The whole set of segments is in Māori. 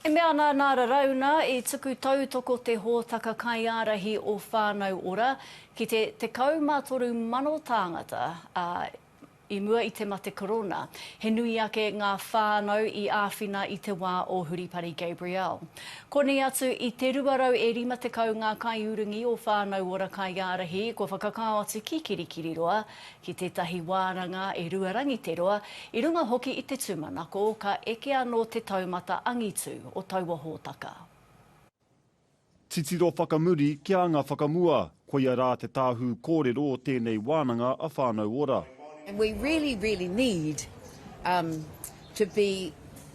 E mea ana nā Rarauna, i tuku tautoko te hōtaka kaiārahi o Whānau Ora ki te 13,000 tāngata, ā, i mua i te mate korona, he nui ake ngā whānau i āwhina i te wā o Huripari Gabrielle. Konei atu i te 250 ngā kaiurungi o Whānau Ora kaiārahi kua whakakao atu ki Kirikiriroa, Ki tētahi wāranga e rua rangi te roa, i runga hoki i te tūmanako, ka eke anō te taumata angitu o taua hōtaka. Titiro whakamuri kia anga whakamua, koia rā te tāhū kōrero o tēnei wānanga a Whānau Ora. And we really, really need to be.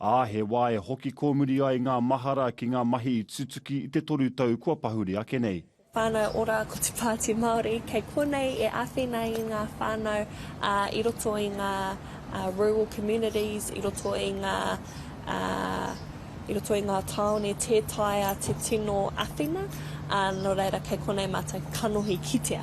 ā, he wā e hoki kōmuri ai ngā mahara ki ngā mahi i tutuki i te toru tau kua pahure ake nei. Whānau Ora Ko te Pāti Māori kei konei e āwhina i ngā whānau i roto i ngā rural communities, i roto i ngā i roto i ngā tāone tē taea te tino āwhina, nō reira kei konei mātou kanohi kitea.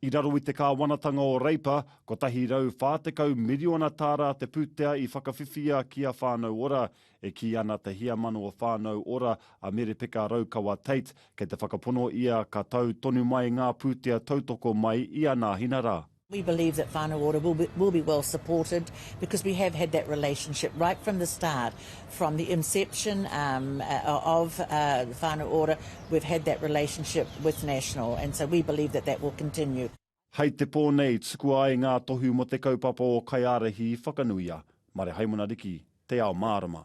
I raro i te kāwanatanga o Reipa, 140 miriona tāra te pūtea i whakawhiwhia ki a Whānau Ora. E kī ana te heamana o Whānau Ora, a Merepeka Raukawa Tait, kei te whakapono ia ka tau tonu mai ngā pūtea tautoko mai i a Nāhina rā. We believe that Whānau Ora will be well supported because we have had that relationship right from the start. From the inception of the whānau ora, we've had that relationship with National and so we believe that that will continue. Hei te pō nei, tukua ai ngā tohu mō te kaupapa o Kaiārahi Whakanuia, Marehaimana Riki, Te Ao Mārama.